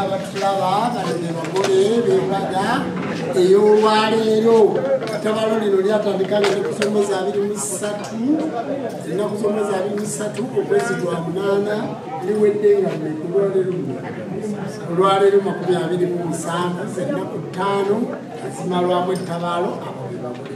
abatulaba bano ne bagole bembaga ey'olwaleero tabalo lino lyatandika nga nekusomeza abiri mu ssatu ennaku someza abiri mu ssatu okwezi gwa munaana liwedde nga nekulwaleero olwaleero makumi abiri mu musanvu zennaku ttaano ezimalwamu ettabaalo abo be bagole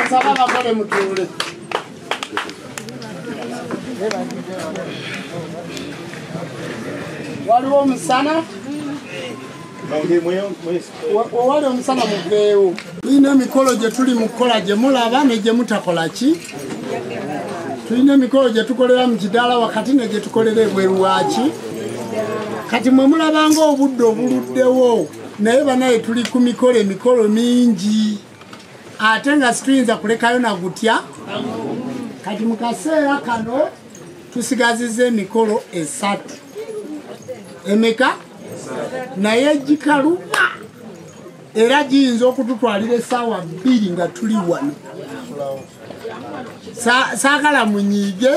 Asaba bakole mutuule. Waliwo omusana owali omusana muveewo. Ino emikolo gye tuli mu kukola gye mulaba ne gye mutakola ki? tulina emikolo gye tukolera mu kidaala wakati ne gye tukolera ebweru waaki kati mwe mulabanga obudde obuluddewo naye banaye tuli ku mikolo emikolo mingi ate nga situyinza kulekayo na gutya kati mu kaseera kano tusigaziza emikolo esatu emeka naye gikaluma era giyinza okututwalira esaawa bbiri nga tuli wano saagala munyiige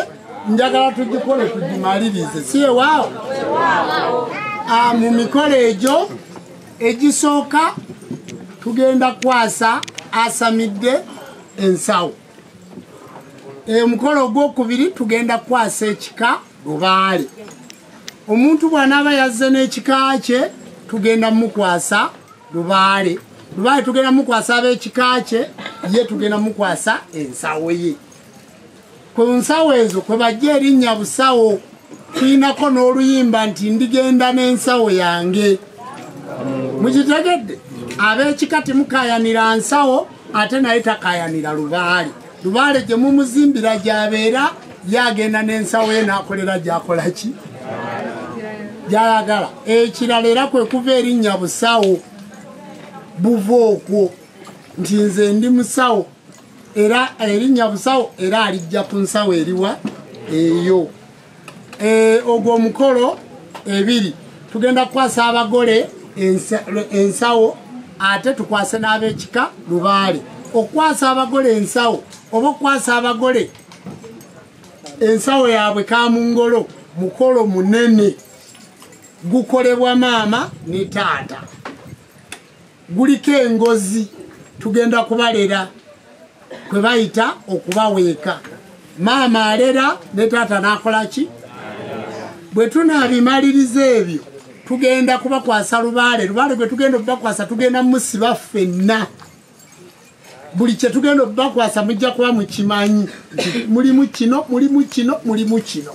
njagala tugikole tugimalirize si ewaawo ah, mu mikolo egyo egisooka tugenda kwasa asamidde ensawo omukolo ogwokubiri tugenda kukwasa ekika lubaale omuntu bwanaaba yazze n'ekika kye tugenda mukwasa lubaale lubaale tugenda mukwasa ab'ekika kye ye tugenda mukwasa ensawo ye ku nsawo ezo kwe bajja erinnya busawo tulinako n'oluyimba nti ndigenda n'ensawo yange mukitegedde ab'ekika temukayanira nsawo ate naye takayanira lubaale lubaale gye mumuzimbira gyabeera yagenda n'ensawo ye n'akolera gyakola ki gyayagala ekirala era kwe kuva erinnya busawo buva okwo nti nze ndi musawo era erinnya busawo era alijja ku nsawo eriwa eyo eh, ogwo omukolo ebiri tugenda kukwasa abagole ensawo ate tukwase n'abekika lubaale okukwasa abagole ensawo oba okukwasa abagole ensawo yaabwe kamungolo mukolo munene gukolebwa maama ne taata guliko engozi tugenda kubalera kwe bayita okubaweeka maama alera ne taata n'akola ki bwe tunaabimaliriza ebyo tugenda kubakwasa lubaale lubaale gwe tugenda okubakwasa tugenda musiba ffenna buli kyetugenda obakwasa mujja kuba mukimanyi mulimu kino mulimu kino mulimu kino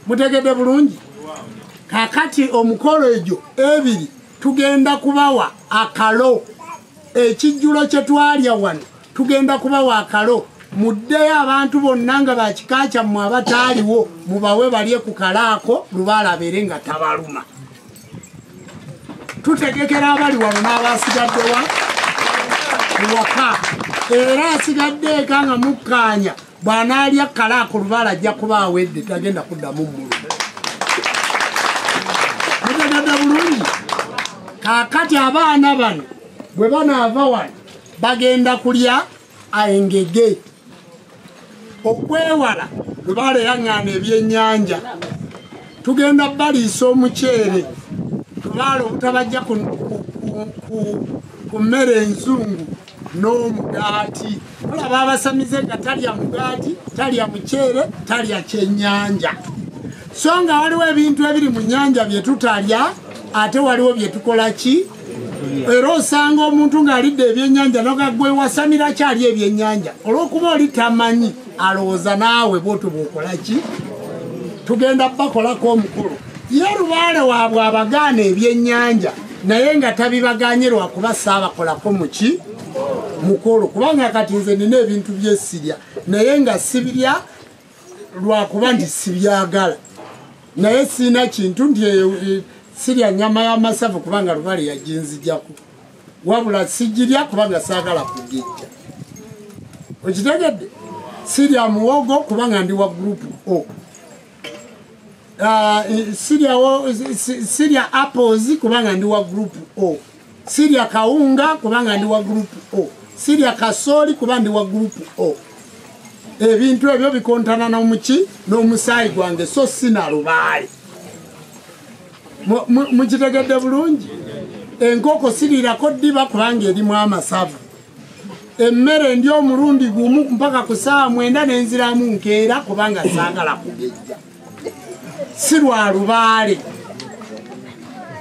mutegedde bulungi kakati omukolo egyo ebiri tugenda kubawa akalo ekijjulo kye twalya wano tugenda kubawa akalo muddeyo abantu bonna nga bakika kyammwe abataaliwo mubawe balye ku kalaako lubalabeere nga tabaluma tutegekera abali wano n'abasigaddewa ewaka era asigadde eka nga mukkaanya bw'anaalya kkalaa ku lubaala ajja kuba awedde tagenda kuddamu mulu mutegadde bulungi kaakati abaana bano bwe banaava wano bagenda kulya engege okwewala lubaale yaŋŋaana ebyennyanja tugenda baliisa omuceere tubaala obutabajja ku mmere enzungu n'omugaati olaba abasamize nga talya mugaati talya muceere talya kyennyanja so nga waliwo ebintu ebiri mu nnyanja bye tutalya ate waliwo bye tukola ki era osanga omuntu ng'alidde ebyennyanja nogagwewasamira kyali ebyennyanja olw'okuba oli tamanyi alowooza naawe bwotyo bwokola ki tugenda bakolako omukulu ye lubaale waabwe abagaana ebyennyanja naye nga tabibaganye lwakuba saabakolako muki mukulu kubanga kati nze nina ebintu byesirya naye nga sibirya lwakuba nti sibyagala naye siina kintu nti e, e, sirya nyama yamasavu kubanga lubale yajinzijaku wabula sijirya kubanga saagala kugijja okitegedde sirya muwogo kubanga ndi wa group o ah, e, sirya apples kubanga ndi wa group o sirya kawunga kubanga ndi wa group o sirya kasooli kuba ndi wa group o ebintu ebyo bikontana nomuki n'omusaayi gwange so sina lubaale mukitegedde bulungi enkoko sirirako ddiba kubanga erimu amasavu emmere ndi omulundi gumu mpaka ku saawa mwenda nenziramu nkeera kubanga saagala kugejja si lwa lubaale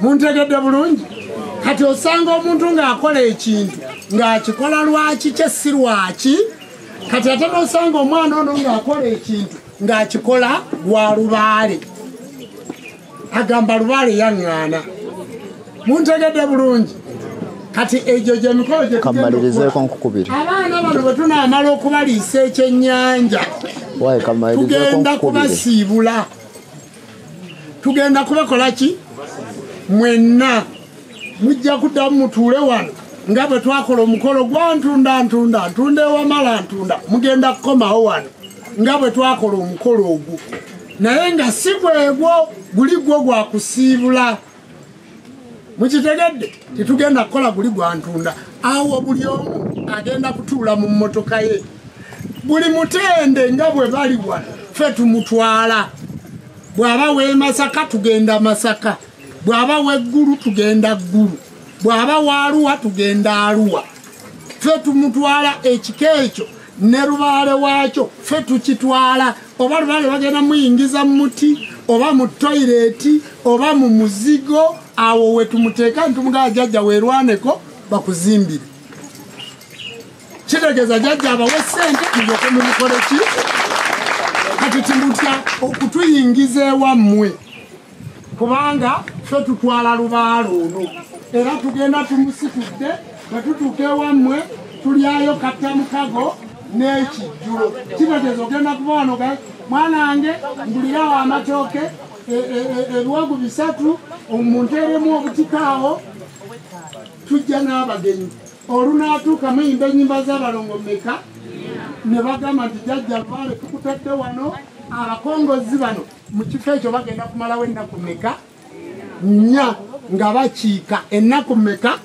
muntegedde bulungi kati osanga omuntu ng'akola ekintu ng'akikola lwaki kye si lwaki kati ate nosanga omwana ono ng'akola ekintu ng'akikola lwa lubaale agamba lubaale yaŋŋaana muntegedde bulungi kati egyo gyemikolo gyekamalirizeko nkukubiri abaana bano bwe tunaamala okubaliisa ekyennyanja tugenda kubasiibula tugenda kubakola ki mwenna mujja kuddamu mutuule wano nga bwe twakola omukolo gwantunda ntunda ntunda ewamala ntunda mugenda kukomawo wano nga bwe twakola omukolo ogwo naye nga si gwegwo guli gwo gwa kusiibula mukitegedde tetugenda kukola guli gwantunda awo buli omu agenda kutuula mu mmotoka ye buli mutende nga bwe bali wano ffe tumutwala bw'aba w'emasaka tugenda masaka bw'aba w'eggulu tugenda ggulu bw'aba waaluwa tugenda aluwa ffe tumutwala ekika ekyo ne lubaale waakyo ffe tukitwala oba lubaale bagenda muyingiza mu muti oba mu toyireeti oba mu muzigo awo we tumuteeka nitumugaa jajja weerwaneko bakuzimbire kitegeeza jajja abawe ssente muyoke mumukoleki kati timutya okutuyingiza ewammwe kubanga fe tutwala lubaala ono era tugenda tumusitudde bwe tutuuka ewammwe tulyayo katta mukago n'ekijjulo kitegeeza ogenda kuba wano ga mwanange mbulirawo amatooke e, e, e, ebiwagu bisatu omunteeremu obutikaawo tujja n'abagenyi olunaatuuka muyimba enyimba z'abalongo meka ne bagamba nti jajja vaale tukutadde wano abakongozi bano mu kifo ekyo bagenda kumalawo ennaku meka nnya nga bakiika ennaku meka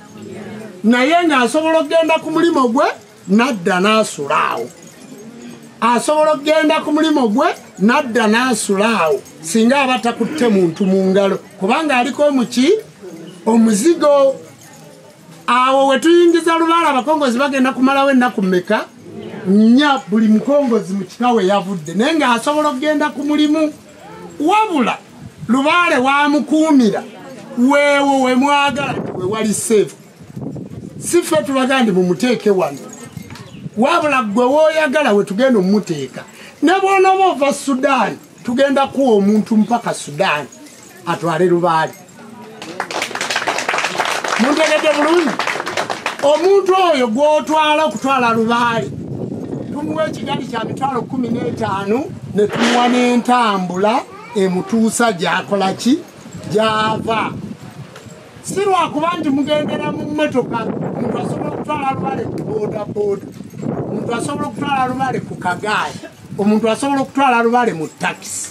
naye ng'asobola okugenda ku mulimu gwe n'adda n'asula awo asobola okugenda ku mulimu gwe n'adda n'asula awo singa aba takutte muntu mu ngalo kubanga aliko omuki omuzigo awo wetuyingiza lubaala abakongozi bagenda kumalawo ennaku meka nya buli mukongozi mu kika we yavudde naye ng'asobola okugenda ku mulimu wabula lubaale wamukuumira weewo we mwagala we wali seefu si ffe tubaga ndi mumuteeke wano wabula ggwe wooyagala we tugenda omumuteeka ne bwonooba ova sudaani tugenda kuwa omuntu mpaka sudaani atwale lubaali muntegedde bulungi omuntu oyo gw'otwala okutwala lubaali tumuwa ekigali kya mitwalo kumi n'etaano ne tumuwa n'entambula emutuusa gyakola ki gyava si lwakuba nti mugendera mu mmotoka omuntu asobola okutwala lubale ku bodaboda omuntu asobola okutwala lubale ku kagaali omuntu asobola okutwala lubale mu takisi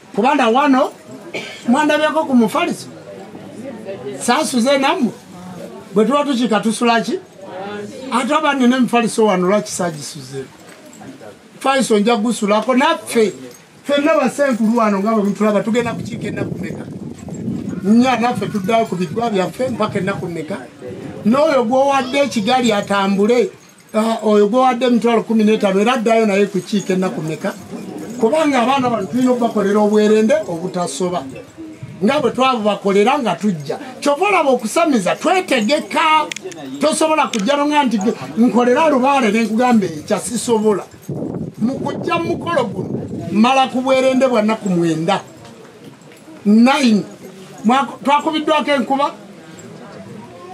kuba na wano mwandabyeko ku mufaliso sasuze nammwe bwe tuba tukiika tusulaki ate aba nina emifaliso wano lwaki sagisuze faliso nja gusulako naffe fenna basenkulu wano nga bwe mutulaba tugenda kukiika ennaku meka nya naffe tuddayo ku bigwa byaffe mpaka ennaku meka n'oyo gwowadde ekigali atambule Ah, oyo gwewadde emitwalo kumi n'etaano era addayo naye kukiika ennaku meka kubanga abaana bano tulina okubakolera obwerende obutasoba nga bwe twabubakolera nga tujja kyova olaba okusamiza twetegeka tosobola kujja nonga nti nkolera lubaale nenkugamba ekya sisobola mu kujja mu mukolo guno mala ku bwerende bwa nnaku mwenda 9 twakubiddwako enkuba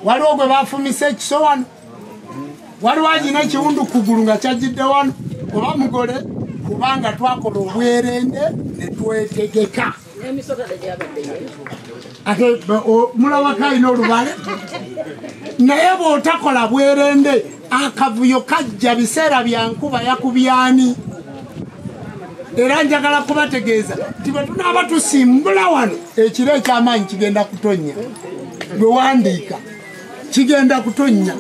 waliwo gwe bafumise ekisowano waliwo alina ekiwundu kugulu nga kyajjidde wano oba mugole kubanga twakola obwerende netwetegeka ate mulabako alina olubale naye bwotakola bwerende akavuyo kajja biseera byankuba yakubyani era njagala kubategeeza nti bwe tunaaba tusimbula wano ekiro ekyamaanyi kigenda kutonnya gwe wandiika kigenda kutonnya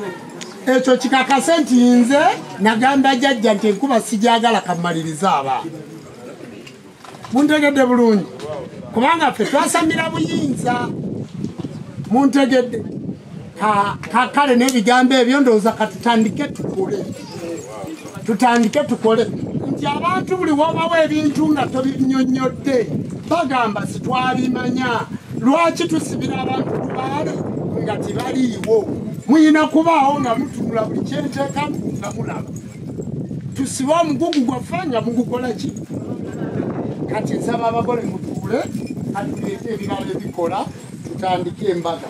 ekyo kikakase nti nze nagamba jajja nti enkuba sijagala kamaliriza abaana muntegedde bulungi kubanga ffe twasamira buyinza muntegedde kakale n'ebigambo ebyo ndowooza katutandike tukule tutandike tukole nti abantu buli wobawo ebintu nga tobinyonyodde bagamba sitwabimanya lwaki tusibira abantu kubaale nga tebaliiwo muyina kubaawo nga mutunula buli kyenteeka nga mulaba tusibe omugugu gwaffe nga mugukola ki kati nsaba abagole mutuule atuleete ebirala ebikola tutandike embaga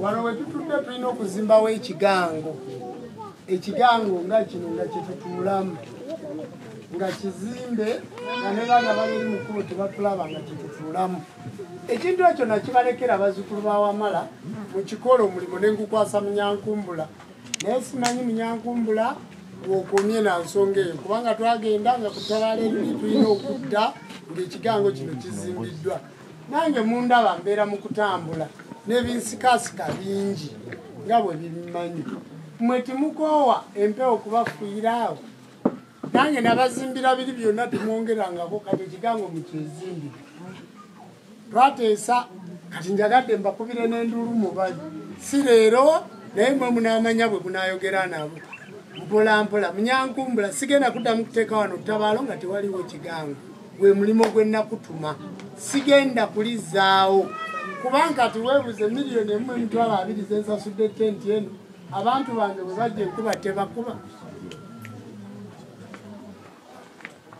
wano wetutudde tulina okuzimbawo ekigango ekigango nga kino nga kyetutuulamu nga kizimbe nga ne baana baliri mukulu tebatulaba nga kyetutuulamu ekintu ekyo nakibalekera bazukulu bawamala mukikola omulimu nengukwasa munyankumbula naye simanyi munyankumbula wokomye na nsonga eyo kubanga twagenda nga kutabaala ebiri tulina okudda ngaekigango kino kizimbiddwa nange mundaba mbeera mu kutambula n'ebinsikasika bingi nga bwe bimanyi mwe timukoowa empewo kubafuyira awo nange nabazimbira biri byonna timwongerangako kati ekigango mukyezimbire twateesa kati njagadde mbakubire n'enduulu mubali si leero naye mwe munaamanya bwe munaayogera nabo mpolampola munyankumbula sigenda kuddamu kuteeka wano ttabaalo nga tewaliwo kigango gwe mulimu gwe nakutuma sigenda kulizaawo kubanga kati weebuze miliyoni emu emitwalo abiri zensasudde tenti eno abantu bange bwe bajja enkuba tebakuba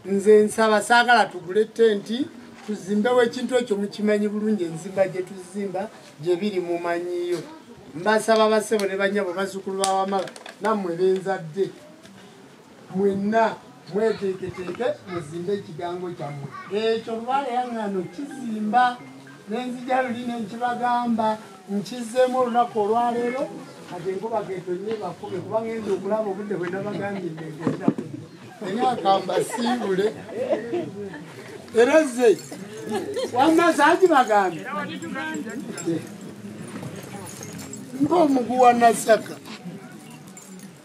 nze nsaba saagala tugule tenti tuzimbewo ekintu ekyo mukimanyi bulungi enzimba gye tuzimba gye biri mumanyiyo mbasaba basebo ne banyabo bazukulu bawamala nammwe benzadde mwenna mweteeketeeke muzimbe ekigango kyammwe ekyo lubaale yaŋŋano kizimba nenzija luli nenkibagamba nkizzemu olunaku olwaleero kati enkuba ketonye bakume kuba ngenza okulaba obudde bwe nabagambye negenda enyakamba siibule era ze wamma zaaki bagambe ngaomuguwa nasaka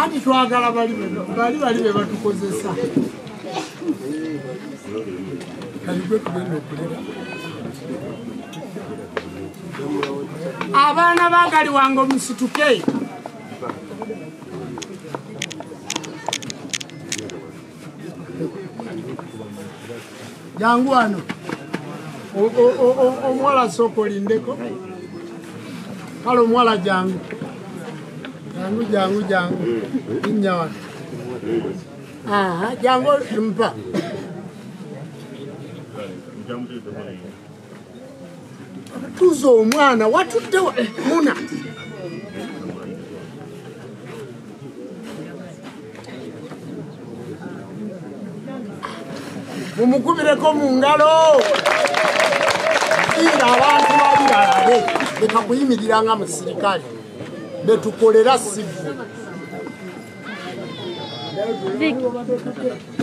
anti twagala bali bali bali be batukozesa abaana bagali wange omusituke jangu wano omuwala sooka olindeko kale omuwala jangu jangu jangu jangu linnya wano jangu mpa tuza omwana watudde muna mumukubireko mu ngalo ira abantu bali balabe leka kuyimirira nga musirikale betukolera sivu Thank you.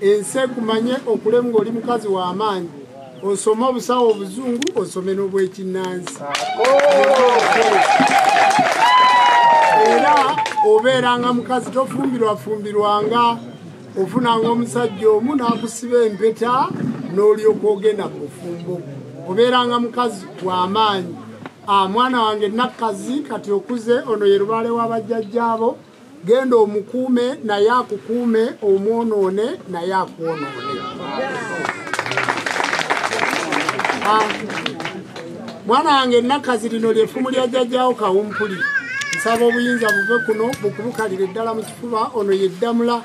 ensi ekumanye okule ng'oli mukazi w'amaanyi osome obusawo obuzungu osome n'obwekinnansi era obeeranga mukazi tofumbirwafumbirwanga ofunanga omusajja omu n'akusiba empeta n'olyoka ogenda mu bufumbo obeeranga mukazi w'amaanyi ah, mwana wange nakkazi kati okuze ono ye lubaale w'abajjajjaabo genda omukuume naye akukuume omwonoone naye akwonoone ah, mwana wange nakazi lino lyefumu lya jajjawo kawumpuli nsaba obuyinza buve kuno bukubukalire ddala mu kifuba ono yeddamula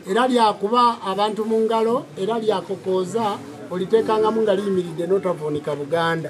era lyakuba abantu mu ngalo era lyakokooza oliteekangamu nga liyimiridde n'otavuunika buganda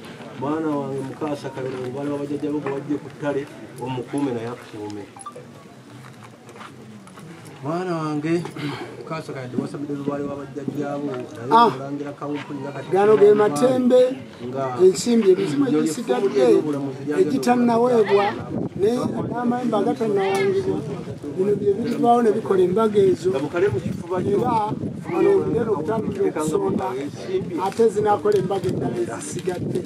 mwana wange mukaasa kabera omubala wabajajja bo gwewajje ku ttale omukuume naye akukuume mwana wange mukaasa kayadde wasabidde lubale wabajjajjabo ah. nayeolangira kawumpuli gano ge matembe ensimbi ebizimu egisigadde egitannaweebwa naye n'amayembe agatanawangibwa bino byebirivaawo ne bikola embaga ezo era wano olugero okutandikira okusonda ate zinakola embaga eddala ezisigadde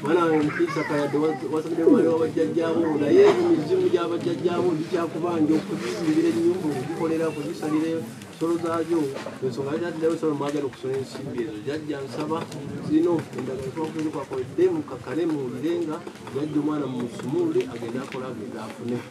mwana wange mukiisa kayadde wasabide mwana wabajjajjaabo naye emizimu gyabajjajjaabo gikyakubanja okuzisimbira ennyumba okugikolera kuzisalire ensolo zaayo ensonga yataddewo ensolo mwagala okusula ensimbi ezo jajja nsaba zino endagala twakuzikwakole dde mukakale muwulire nga jajja omwana mumusumulule agende akola agende afune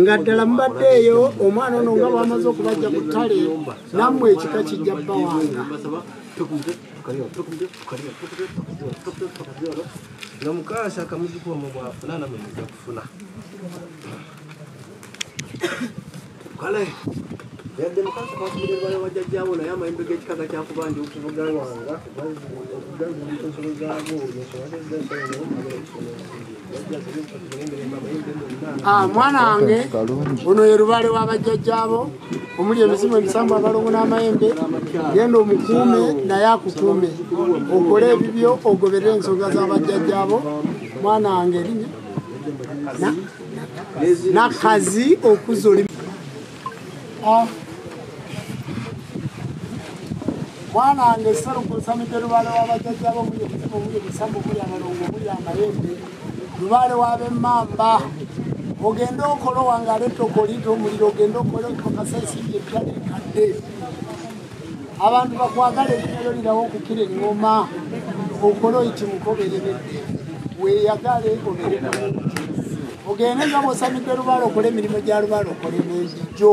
nga ddala mubaddeeyo omwana ono nga bwamaze okubajja ku ttale nammwe ekika kijja bbawanga nga mukaasa akamuziku omu bwafuna namwe muja kufuna kale yadde mukaasa kakumirerwayo wajjajjaawo naye amayimbe g'ekikaga kyakuba ndi okuvuga wanga okugaza ensolo zaago ensolo zaago Ah, mwana wange ono ye lubaale wa bajjajjaabo omuli emizimu emisambu abalongo n'amayembe genda omukuume naye akukuume okole ebibyo ogoberere ensonga za bajjajjaabo mwana wange erinnya nakazi okuza oli mwana wange serukusa mide lubaale wabajajjabo muli omutima muli ebisambu muli abalongo muli amayembe lubaale wabemamba ogende okolo wange aleta okolita omuliro ogende okole okakasa esimbi ebitali nkadde abantu bakwagala ebinyalo lirawo okukira eŋoma okola oyiti mukoberebedde weyagale obere ogende nga bwosamidde lubaale okola emirimu gya lubaale okole nenjijjo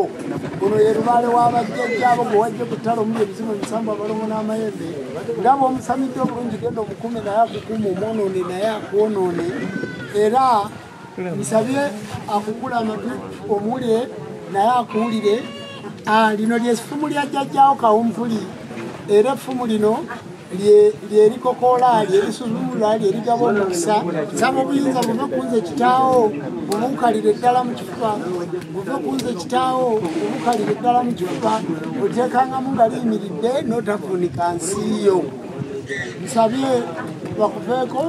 ono ye lubaale wabajjajjaabo gwe wajje kutala omuli ebizimu ebisambu abalongo n'amayembe nga bwomusamidde obulungi genda omukume naye akukuuma omwonoone naye akwonoone era musabye akungula amatu omule naye akuwulire ah, lino lyesifumu lya jjajjawo kawumpuli era effumu lino lyerikokoola lyerisuzumula lyerigaba omukisa saba obuyinza buve kunze kitaawo obuukalire ddala mu kifuba buve kunze kitaawo obuukalire ddala mu kifuba otekangamu nga liyimiridde notafunika nsiiyo nsabye bakuveeko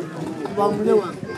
bamule wange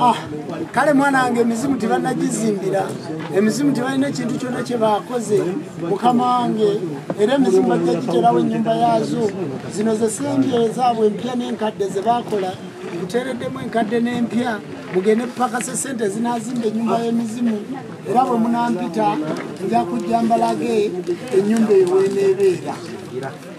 Ah, kale mwana wange emizimu tebanagizimbira emizimu tebalina ekintu kyonna kyebakoze mukama wange era emizimu bajja giterawo ennyumba yaazo zino zesembye zaabwe empya n'enkadde zebakola kuteereddemu enkadde n'empya mugende kupakasa esente zinazimba ennyumba y'emizimu era bwe munampita nja kujja mbalage ennyumba eweneebeera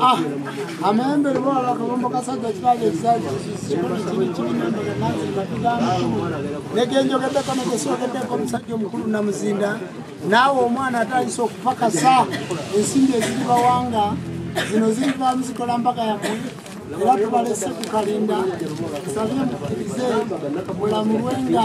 Ah, amayembere bwala akabombo kasajja kiraga ekisaekirikiinegyenjogeddeko negesoogeddeko omusajja omukulu namuzinda naawe omwana atayisa okupakasa ensimbi eziri bawanga zino zirivamu zikola mbaga yamwe era tubalese ku kalinda nsabye mukirize mulamulwenga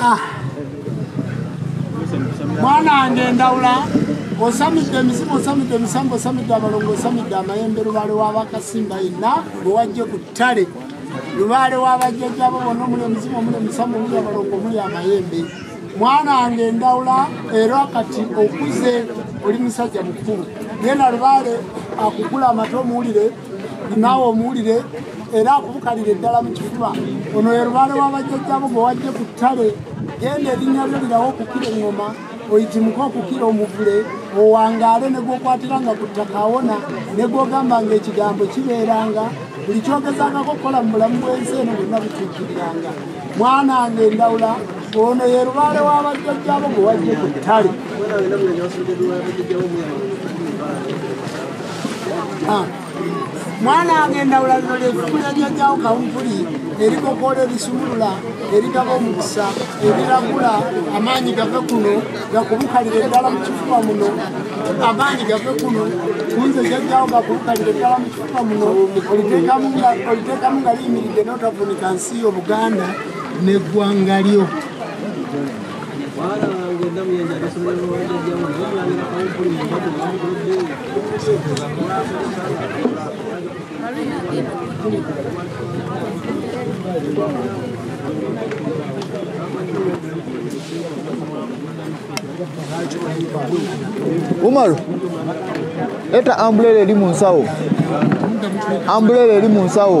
Ah. mwana wange endawula osamidde emizimu osamidde emisambo osamidde abalongo osamidde amayembe lubaale wabakasimba yenna owajje ku ttale lubaale wabajjajjabo bona omuli emizimu omuli emisambo omuli abalongo omuli amayembe mwana wange endawula era kati okuze oli musajja mukulu genda lubaale akugula amata omuwulire naawe omuwulire era akubukalira eddala mu kifuba ono ye lubaale w'abajjajjabo gwe wajje ku ttale genda erinnya lyo lirawo okukira eŋŋoma oyitimuke okukira omuvule owangaale ne gwokwatiranga ku ttaka awona ne gwogamba nga ekigambo kibeeranga buli kyogezangako okukola mu bulamu bw'ensi eno bonna butuukiriranga mwana wange endawula ono ye lubaale w'abajjajjabo gwe wajje ku ttale mwana wange endawula lino lyefumu lyajjajawo kawumpuli erikokoola ebisumulula eritaba omukisa eriragula amaanyi gave kuno gakubukalire eddala mu kifuba muno amaanyi gave kuno kunze jajjawo gakubukalire eddala mu kifuba muno oliteekamu nga liyimiridde n'otavunika nsi yo buganda n'eggwanga lyo umaru leta ambulera eri mu nsawo ambulera eri mu nsawo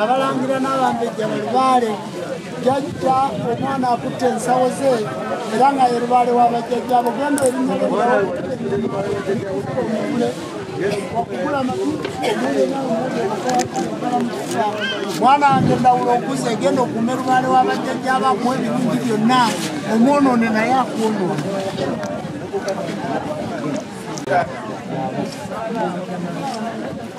abalangira n'abambejja balubaale jajja omwana akutte ensawo ze era nga ye lubaale wa bajjajja abo genda erinnyalomule okugula mwana wange ndawula okuza egenda okume lubaale wa bajjajja abo akuwa ebirungi byonna omwonoone naye akwonoona Thank you.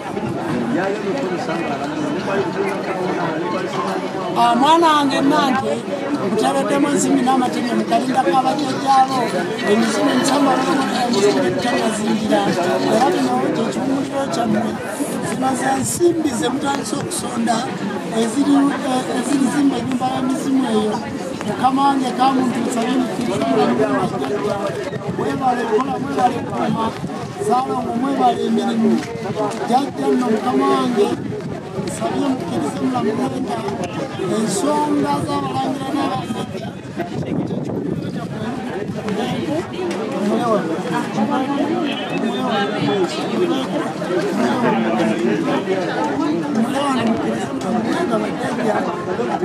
Ah, mwana wange nange nkutaleddemu ensimbi n'amatebyo mukalindako abajjajjaabo emizimu emisambaemitanazingira era bino kyekikumuliro kyammwe zino ze nsimbi ze mutandise okusonda eziri zimba enyumba y'emizimu eyo mukama wange kamuntu nsabye mukiriwebale kola mwebale kuma Salongo mwebale emirimu jajja nno mukama wange nsabye mukkirize mulamulenda ensonga z'abalangira n'abasajja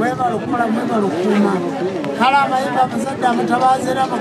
webala okukola mwebala okuuma kale abayimba abazadde abatabaazi era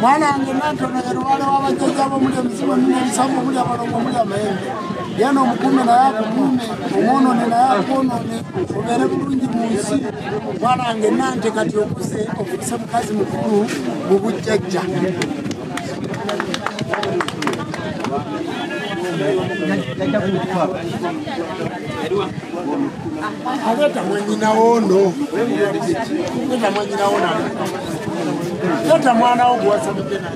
mwanange nantona yalubale wabajjaja abomuli emizimu emina ebisamu omuli abalongo omuli amayembe yena omukume naye akukume omwonone naye akwonone obeere bulungi mu nsi mwanange nante kati okuze okuse mukazi mukulu mu bujjajja Thank you. Aleta mwenyina wono. Aleta mwenyina wono. Aleta mwana wo gwasa mukena.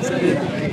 Thank you.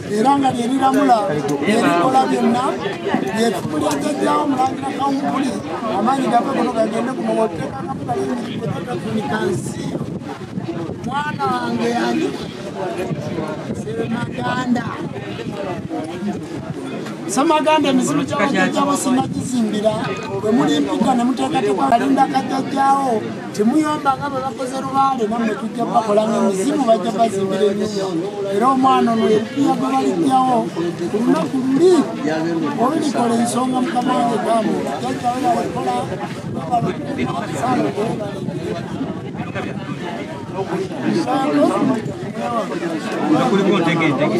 era nga lyeriramula erikola byonna lyefumu lya jajjawo mulangira kawumpuli amaanyi gave gono gagende ku muwotekansi mwana wange yani semaganda semaganda emizimu gyabajajjabo sinagizimbira bwe mulimpika ne muteekateeka alinda kajajjawo temuyomba nga bwe bakoze lubaale nammwe tujja bakola nga mizimu bajja bazimbira enyumba era omwana ono yepiya gwe balipyawo ku lunaku luli olulikola ensonga mukama wange gamu jajjawebalikola kuliko ntegeentege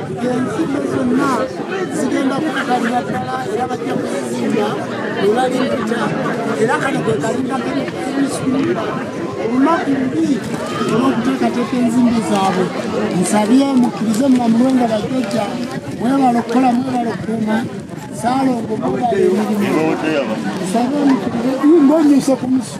ensimbe zonna zigenda kukukalira ddala era bajja kuzizimba olali mpita era kano kwe kalindakaiisuula olunaku lubi olwokuteekateeka enzimbi zaabwe nsabye mukkirize mumamulwe nga bajjajja mwebala okukola mwebala okukuuma salongo mubala emirimu nsabe mukkirize mbonyuse ku musu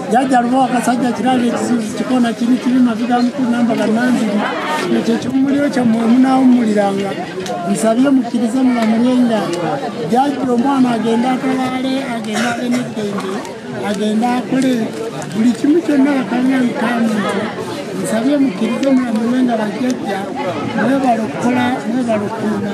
jajja luba wakasajja kiraba ekizibu kikona kiri kiri maviga mukulu namba gananziri ekyo ekimumuliro kyammwe munaawummuliranga nsabye mukkirize mulamulye nga jajja omwana agende atalaale agende ale neddembe agende akole buli kimu kyonna bakanya nkamu nsabye mukkirize mulamulye nga bajjajja mwebala okukola mwebala okuuma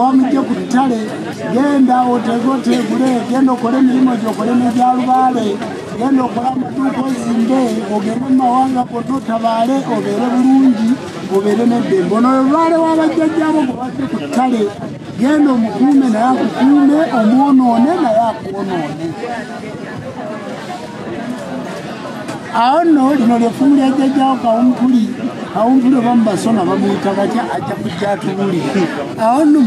omujje ku ttale genda otegote gule genda okole emirimu gyo okole negyalubaale genda okola amaduuka ozimbe ogende mu mawanga gonna otabaale obeere bulungi obeere neddembe ono olwale wabajjajjabo gwe bajje ku ttale genda omukuume naye akukuume omwonoone naye akwonoone awo nno lino lyefumu lya jjajjawo kawumpuli kawumpuli oba mubasoma bamuyita batya ajja kujja atubuli awo nno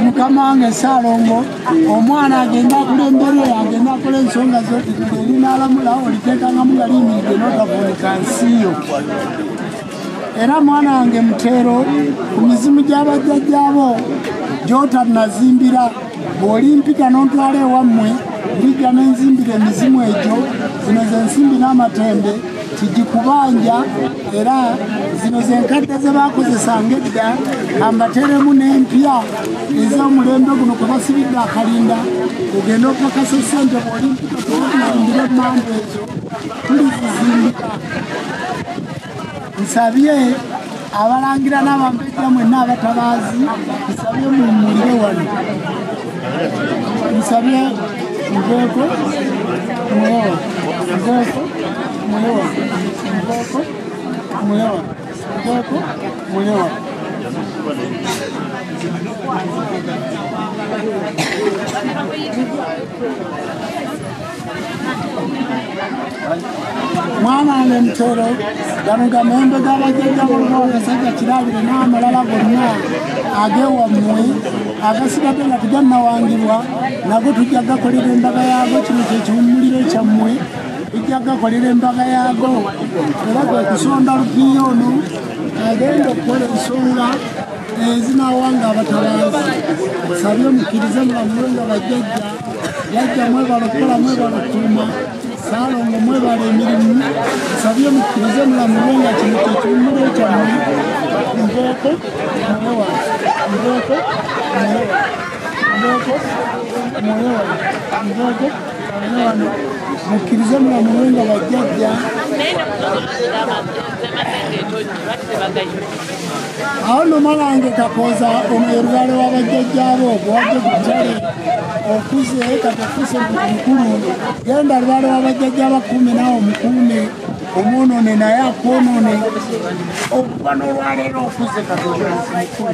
mukama wange saalongo omwana agenda akula embere agenda akula ensonga zoerinalamula oliteekangamu nga liyimiridde notavunika nsiyo era mwana wange muteero ku mizimu gy'abajjajjaabo gyotanazimbira bw'olimpita n'ontwala ewammwe ndijja ne nzimbira emizimu egyo zino ze nsimbi n'amatembe kigikubanja era zino ze nkadde ze baakozesanga edda ambateremu n'empya ez'omulembe guno kwe basibidde akalinda ogenda okakasa ssente bw'olimpita tewakuyindira emmamba ezo tulizizimbika nsabye abalangira n'abambejja mwenna abatabaazi nsabye mumulire wano nsabye nveeko mwewa nveeko mwewa nveeko mwewa nveeko mwewa Thank you. mwana wange mutero gano gamembe gabajjajja boluba agasajja kirabire n'amalala gonna agewammwe agasigadde nga tugannawangibwa nago tujja gakolera embaga yaago kino kyekiwummuliro kyammwe tujja gakolera embaga yaago era gwe kusonda lupiiya ono agenda okukola ensonga ezinawanga abatabaazi sabye mukkirize mulamulo nga bajjajja yajja mwebala okukola mwebala okutuuma saalongo mwebala emirimu nsabye mukkirize mulamulwe nga kino kyekiwumula ekyamu mbooko mwoyo wange mbooko mwoyo mbooko mwoyo wange mbooko mwoyo wange mukkirize mulamulwe nga bajjajja awo no malange kakooza ono ye lubaale wa bajjajjaabo ogwabye kutale okuze katafuse mukulu genda lubaale wa bajjajjaabo akuume naawe omukuume omwonone naye akwonone okuba n'olwaleero okuze katooa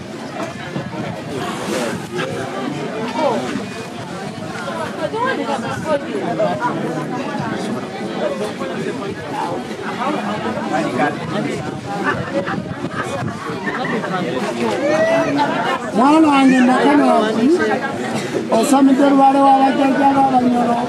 mwana wange nakano osamidde lubaale wabajjajjaba abanyolo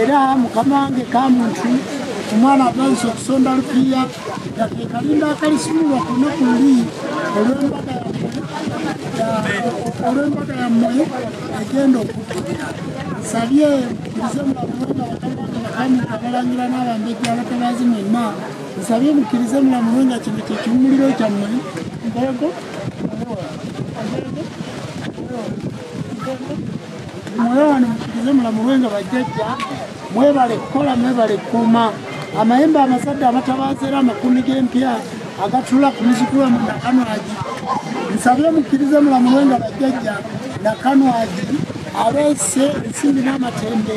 era mukama wange kamuntu omwana atandise okusonda lupiiya yateekalinda akalisumulwa ku lunaku luli olw'embaga olw'embaga yammwe egenda okutukira nsabye muze mulamuwenga bakamwakabakamuka abalangira n'abambejja abatabaazi mwenna nsabye mukkirize mulamuwenga kino kyekiwumuliro kyammwe mbogo Mwoyo wano mukirize mulamulwe nga bajjajja mwebale kukola mwebale kukuuma amayembe amasadde amatabaaza era amakumi g'empya agatula ku mizikulu amu nakanwagi nsabye mukkirize mulamulwe nga bajjajja nakanwagi aleese ensimbi n'amatembe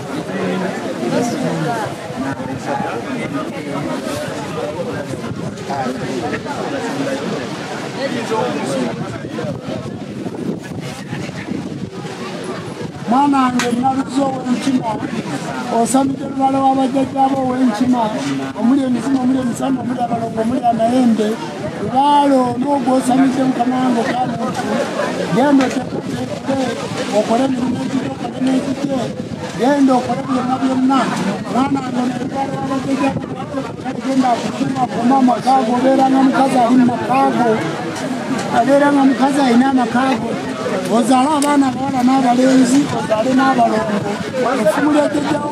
mwana wange naluzi owenkima osamidde lubala wabajjajjaabo owenkima omuli emizimu omuli emisambo omuli abalongo omuli amayembe Kubaalo n'ogwosamidde mukama wange kamuntu genda otekoteekute okole emirimu egiri okole n'ekite genda okole byonna byonna mwana wange oneebalwalagega genda akusuma kuma amaka ago obeera nga mukazi ali mu maka ago abeera nga mukazi alina amaka ago ozaale abaana abawala n'abalenzi ozaale n'abalongo efumu lyajjajjawo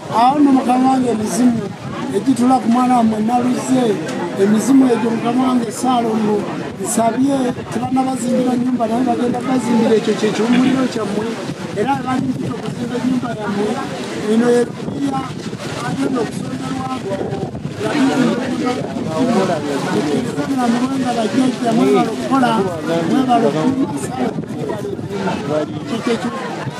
awo no mukama wange emizimu egitula ku mwana wamwe naluze emizimu egyo mukama wange saalongo nsabye tebana bazimbira nyumba naye bagenda bazimbira ekyo kyekiwumuliro kyammwe era balinzita okuzimba enyumba yammwe eno yebiya agenda okusonderwabwo Thank you.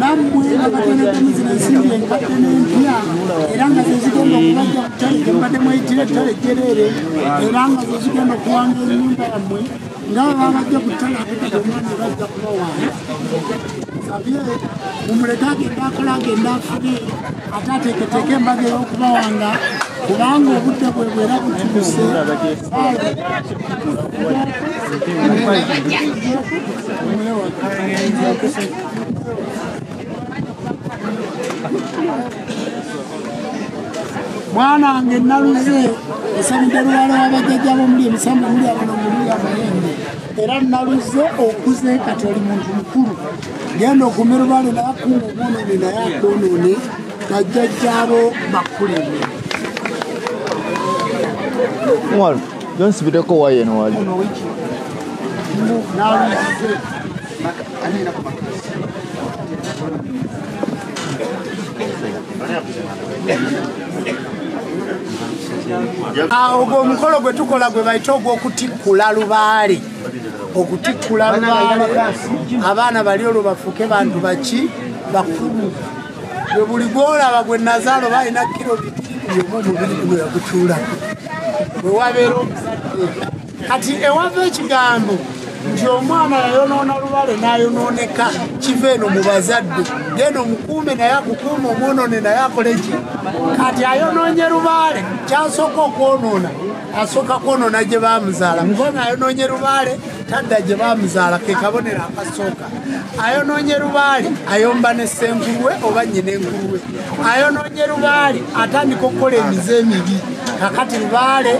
nammwe abatonedde muzina ensimbi enkadde n'empya era nga zezigenda okubajja ku ttale gye mbadde mweyitira ettale jjereere era nga zezigenda okuwanga ennyumba yammwe nga bababajja ku ttale atekati omwana bajja kubawaana sabye mumuleke agenda akola agenda afune ate ateeketeeka embaga ey'okubawanga kubanga obudde bwe bwera butuuse mwanange naluze esabidde luwala wabajjajja bomuli emisamba muli abano muli amayembe era naluze okuze kati oli muntu mukulu genda ogume lubale nayakuuma obwonoone naye akwonoone bajjajjaabo bakuleme Jones bideko waye no wali. Ono wiki. Mbu nawe ise. Maka anena kwa maka. Awo gwo mukolo gwe tukola gwe bayita ogw'okutikkula lubaale okutikkula lubaale abaana bali olwo bafuuke bantu baki bakulu gwe buli gwolaba gwe nazaalo balina kiro bitiibiri omu omubiri guno yagutuulako bwe wabeera omuzadde kati ewava ekigambo nti omwana yayonoona lubale n'ayonooneka kiva eno mu bazadde genda omukuume naye akukuuma omwonoone naye akole ki kati ayonoonye lubaale kyasooka okwonoona asooka kwonoona gye baamuzaala mukona ayonoonye lubaale tadda gye baamuzaala ke kabonero akasooka ayonoonye lubaale ayomba ne ssenkulwe oba nnyina enkulwe ayonoonye lubaale atandika okukola emize emibi kakati lubaale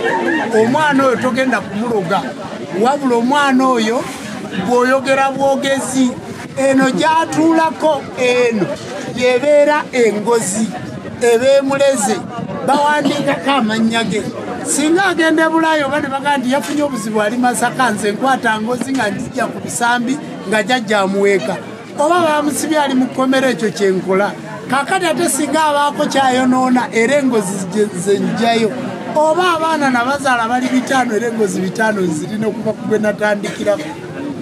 omwana oyo togenda kumuloga wabula omwana oyo bw'oyogera bwogezi eno gyatuulako eno yebeera engozi ebemuleze bawandiikako amannya ge singa agenda ebulaayo oba ne bagaa nti yafunye obuzibu ali masaka nze nkwata ngozi nga njija ku bisambi nga jajja amuweeka oba bamusibye ali mu kkomera ekyo kyenkola kakati ate singa abaako kyayonoona era engozi zenjayo oba abaana nabazaala bali bitaano era engozi bitaano zirina okuva kugwe natandikirako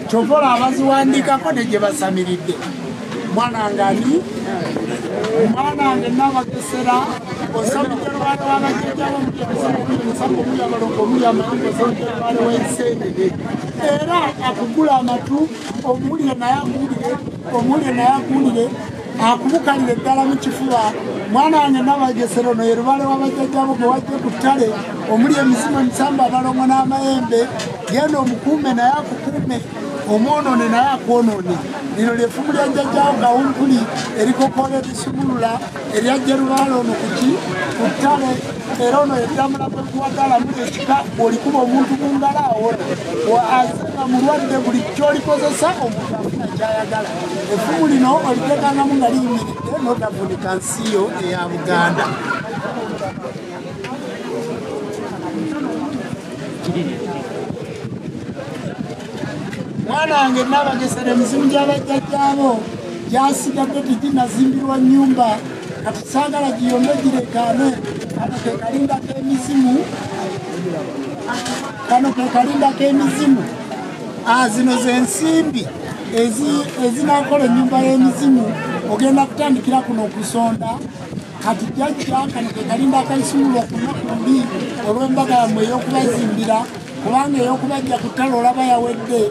kyovola abaziwandiikako ne gye basamiridde mwana ngani mwana nge nabagesera osabidde lwana wabajjajjabo muyamusamuya balongo muya mayumba osabidde lwana wensendede era akugula amatu omuwulire naye akuwulire omuwulire naye akuwulire akubukalire ddala mu kifuba mwana wange nabagesera ono ye lubale wabajjajjabo gwe wajje ku ttale omuli emizimu emisamba abalongo n'amayembe genda omukuume naye akukuume omwonoone naye akwonoone lino lyefumu lya jjajjawo gawumpuli erikokola ebisumulula erya jerubaala ono kuki ku ttale era ono yeddamula kwekuwagalamu ekika olikuba omuntu ku ngalo awona aze nga mulwadde buli kyolikozesa omuntu afuna kyayagala efumu lino olitekangamu nga liyimiridde notavunika nsiyo eya buganda mwana wange nabagesera emizimu gyabajjajjaabo gyasigadde teginazimbirwa nyumba kati saagala giyombe gireekaane kano kekalindako emizimu kano kekalindako emizimu ah, zino zensimbi ezinakola enyumba y'emizimu ogenda kutandikira kuno okusonda kati jajja kano kekalinda akaisumula okunaku mbi olw'embaga yammwe ey'okubazimbira kubanga ey'okubajja ku ttale olaba yawedde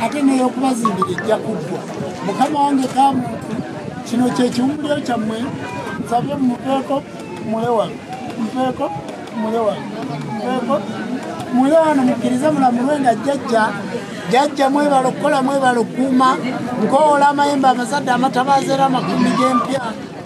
ate n'ey'okubazimbira ejja kuggwa mukama wange ka muntu kino kye kiwumbuliro kyammwe nsabye mupeeko mulewano mupeeko mulewano mupeeko mule wano mukkirize mulamulwe nga jjajja jjajja mwebala okukola mwebala okukuuma nkoola amayembe amazadde amatabaazera amakumi g'empya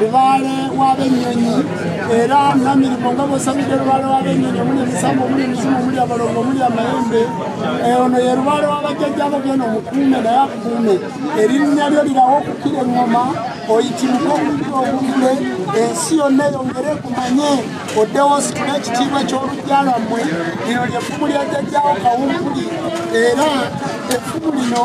lubaale w'abennyonyi era namirimu nga bwosabidde lubaale w'abennyonyi omuli emisambo omuli emizimu omuli abalongo omuli amayembe eh, ono ye lubaale w'abajjajjabo byona omukuume naye akuume erinnya lyo lirawo okukira eŋŋoma oyitimuka okukira obugule ensi yonna eyongere kumanye oddewo ositula ekitiibwa ky'olujja lwammwe lino lyeffumu lya jjajjawo kawumpuli era effumu lino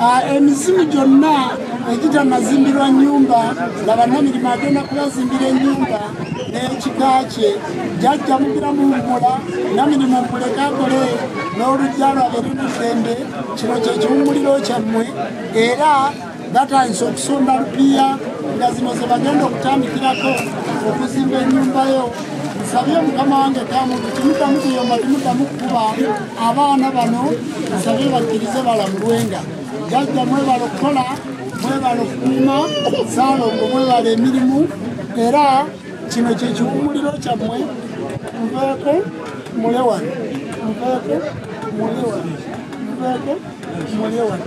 Ah, emizimu gyonna egita mazimbirwa nyumba nga bannamirimu agenda kubazimbira enyumba n'ekika kye jajja mugira mu mbula namirimu muleke akole n'olujja lwabere muddembe kino kyekiwumuliro kyammwe era batandise okusomba lupiiya nga zino ze bagenda okutandikirako okuzimba ennyumbayo nsabye mukama wange kamuntu timuddamu kuyomba timuddamu kukuba abaana bano nsabye bakkirize balamulwenga jajja mwebala okukola mwebala okukuuma saalongo mwebala emirimu era kino kyekiwumuliro kyammwe nveeko mulewano nveeko mulewano nveeko mulewano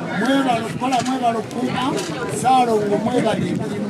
mwebale okukola mwebale okukuuma saalongo mwebale emirimu